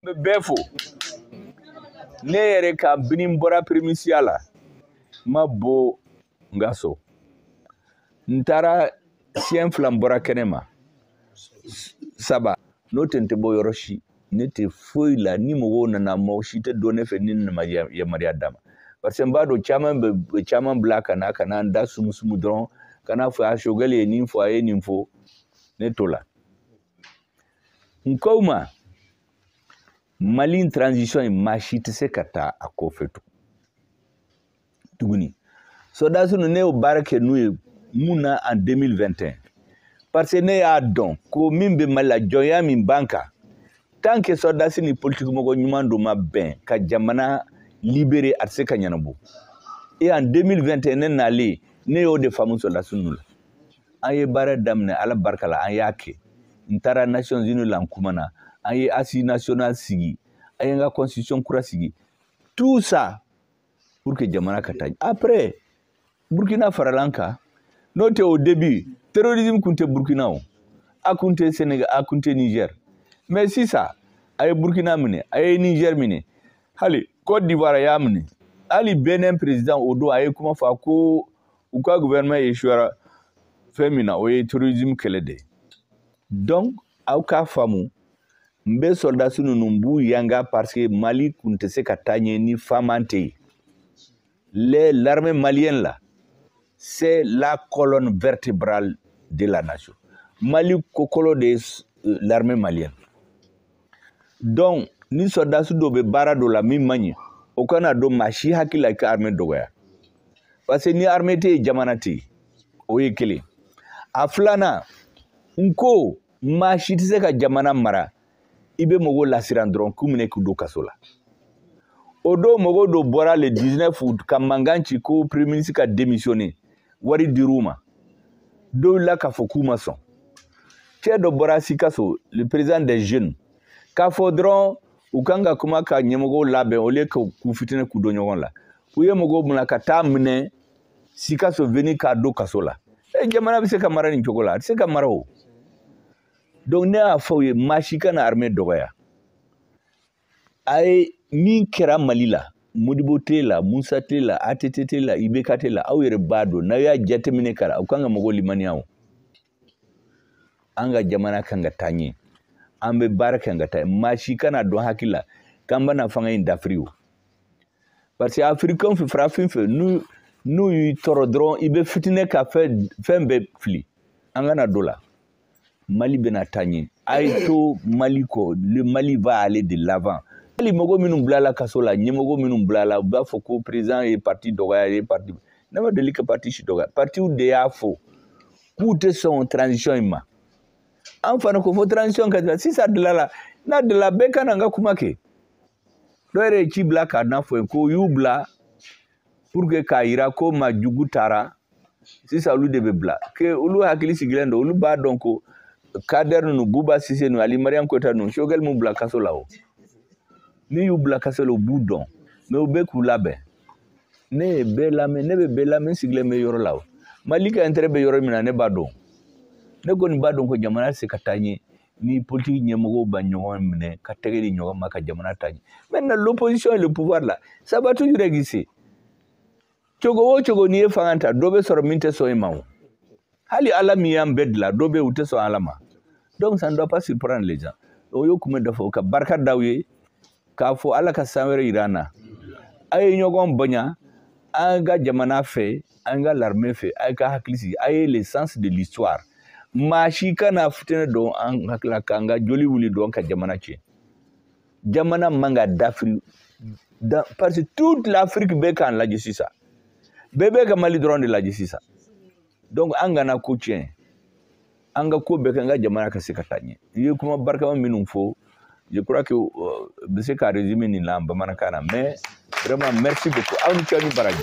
bɛ bɛɛ fo ne yɛrɛ kabini n bɔra primature la n ma bɔ n ka so n taara siɲɛ fila n bɔra kɛnɛ ma saba n'o tɛ n tɛ bɔ yɔrɔ si ne tɛ foyi la ni mɔgɔw nana mɔgɔ si tɛ don ne fɛ ni ne ma yamaruya d'a ma parce que n b'a dɔn caman bɛ caman bila ka na ka na n da sumusumu dɔrɔn ka n'a fɔ a sogɛli ye nin fɔ a ye nin fɔ ne tɔgɔ la n ko ma mali transition in maa si tɛ se ka taa a kɔfɛ tuguni sɔrɔdasi ninnu ne y'o baara kɛ n'u ye mun na en 2021 parce que ne y'a dɔn ko min bɛ mali la jɔnya min b'an kan tant que sɔrɔdasi ni politikimɔgɔ ɲuman dɔ ma bɛn ka jamana libérer a tɛ se ka ɲɛnabɔ et en 2021 ne nalen ne y'o de faamu sɔrɔdasi ninnu la an ye baara daminɛ ala barika la an y'a kɛ n taara nations unies la n kumana an ye assises nationales sigi an ye an ka constitution kura sigi tout ça pour que jamana ka taa après burkina farala an kan n'o tɛ au début terrorisme kun tɛ burkina o a kun tɛ sénégal a kun tɛ niger mais sisan a ye burkina minɛ a ye niger minɛ hali côte d'ivoire a y'a minɛ hali benin président o don a ye kuma fɔ ko u ka gouvernement échouera fɛn min na o ye terrorisme kɛlɛ de ye donc aw k'a faamu n bɛ sɔrɔdasi ninnu n b'u yanga parce que mali kun tɛ se ka taa ɲɛ ni fama tɛ yen les l'armée malienne là c'est la colonne vertébrale de la nation mali kokolo de ye euh, l'armée malienne donc ni sɔrɔdasi dɔ bɛ baara dɔ la min man ɲi o kana don maa si hakili la i ka armée dɔgɔya parce que ni armée tɛ yen jamana tɛ yen o ye kelen a filanan n ko maa si tɛ se ka jamana mara i bɛ mɔgɔw lasiran dɔrɔn k'u minɛ k'u don kaso la o don mɔgɔ dɔw bɔra le 19 août ka mankan ci ko premier ministre ka démissionner wari dir'u ma dɔw wulila k'a fɔ k'u ma sɔn cɛ dɔ bɔra sikaso le président des jeunes k'a fɔ dɔrɔn u kan ka kuma ka ɲɛmɔgɔw labɛn au lieu ka k'u fitinɛ k'u don ɲɔgɔn la u ye mɔgɔw minɛ ka taa a minɛ sikaso veni k'a don kaso la e jamana bɛ se ka mara nin cogo la a tɛ se ka mara o donc ne y'a fɔ u ye maa si kana armée dɔgɔya a ye min kɛra mali la modibo tile la musa tile la att tile la ibk tile la aw yɛrɛ b'a dɔn n'aw y'a jateminɛ kara aw kan ka mɔgɔw limaniya o an ka jamana kan ka taa ɲɛ an bɛ baara kan ka taa maa si kana a don hakili la k'an bɛna fanga in dafiri o parce que afirikɛnw fɛ farafin fɛ n'u n'u y'i tɔɔrɔ dɔrɔn i bɛ fitinɛ ka fɛn fɛn bɛɛ fili an kana don la mali bɛna taa ɲɛ a ye to mali kɔ le mali va aller de l'avant hali mɔgɔ minnu bilala kaso la ɲɛmɔgɔ minnu bilala u b'a fɔ ko président ye parti dɔgɔya ye parti ne ma deli ka parti si dɔgɔya partiw de y'a fɔ k'u tɛ sɔn transition in ma an fana ko fo transition ka dilan sisan dilala n'a dilala bɛɛ ka na n ka kuma kɛ dɔ yɛrɛ ye ci bila ka n'a fɔ n ye ko u y'u bila pour que k'a jira ko maa jugu taara sisan olu de bɛ bila que olu hakili sigilen don olu b'a dɔn ko kader ninnu buba sise ninnu ali mariam koyita ninnu choguel m'u bila kaso la o min y'u bila kaso la u b'u dɔn mais u bɛ k'u labɛn ne ye bɛɛ lamɛn ne bɛ bɛɛ lamɛn sigilen bɛ yɔrɔ la o mali ka intérêt bɛ yɔrɔ min na ne b'a dɔn ne kɔni b'a dɔn ko jamana tɛ se ka taa ɲɛ ni politiki ɲɛmɔgɔw ma ɲɔgɔn minɛ ka tɛgɛ di ɲɔgɔn ma ka jamana taa ɲɛ maintenant l'opposition et le pouvoir là ça va toujours exister cogo o cogo n'i ye fanga ta dɔ bɛ sɔrɔ min tɛ sɔn i ma o hali ala min y'an bɛɛ dilan dɔ bɛ yen u tɛ sɔn ala ma donc ça ne doit pas surprendre les gens o y'o kuma dɔ fɔ ka barika da aw ye k'a fɔ ala ka san wɛrɛ yira an na a ye ɲɔgɔn bonya an ka jamana fɛ an ka l'armée fɛ a ye ka hakili sigi ayez le sens de l'histoire maa si kana fitinɛ don an hakili la k'an ka joli wuli dɔn ka jamana tiɲɛ jamana man ka dafiri dɛ parce que toute l'Afrique bɛ k'an lajɛ sisan bɛɛ bɛ ka Mali dɔrɔn de lajɛ sisan donc an kana ko tiɲɛ an ka ko bɛɛ kɛ an ka jamana ka se ka taa ɲɛ i ye kuma barikama minnu fɔ je crois que euh, bɛ se ka résumer nin la bamanankan na mais vraiment merci beaucoup aw ni ce ni baraji